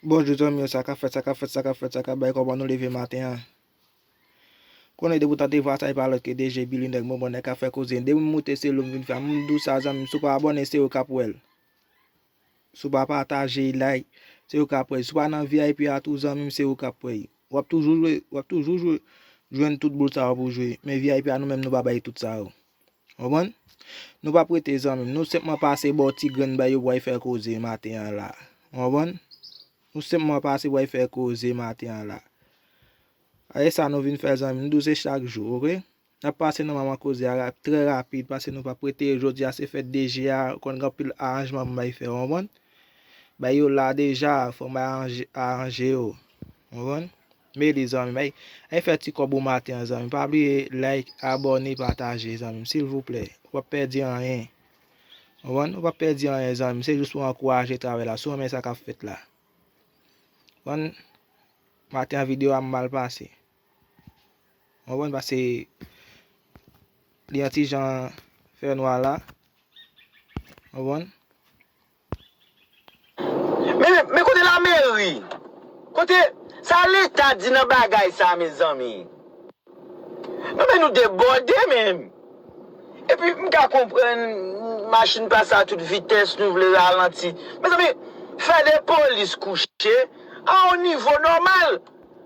Bonjou zanmi yo saka fèt saka fèt saka fèt saka bay kòman nou leve maten an konnen depi w tande vwa sa e pa lòt ke DG Billy nèg bonbon nèg kap fè koze depi m moute se lou m vin fè m di w sa zanmi m si w pa abòne se ou kap wè l si w pa pataje like se ou kap wè l si w pa nan vip a tou zanmi m se ou kap wè l wap toujou jwe wap toujou jwe jwenn tout boul sa yo pou w jwe men vip a nou menm nou pa bay tout sa yo. Konprann? Nou pap rete zanmi m. Nou senpman pase ba w ti grenn bay yo pou w al fè koze maten an la a. Ou konprann? Nou senpman pase pou w al fè koze maten an la a. A e sa nou vin fè zanmi m. Nou di w se chak jou, oke? N ap pase nan manman koze a rap, trè rapid, paske nou pap rete. Jodi a se fèt DG a, ou konn gen anpil aranjman pou m bay fè, ou konprann? Bay yo la deja, fò m bay aranje yo. Ou konprann? Meli zanmim ey ey fè ti kòb ou maten an zanmim pa bliye like abòne pataje zanmim silvouplè ou pap pèdi anyen konprann ou pap pèdi anyen zanmim se jis pou ankouraje travay la si w renmen sa kap fèt la konprann maten an video a mal pase konprann pase li yon ti jan fè nwa la konprann Men kote la meri? Kote sa leta di nan bagay sa mezanmi? Non men nou debòde men. Epi m ka konprann machin pase a tout vitès nou vle ralanti. Mezanmi fè de polis kouche a yon nivo nòmal.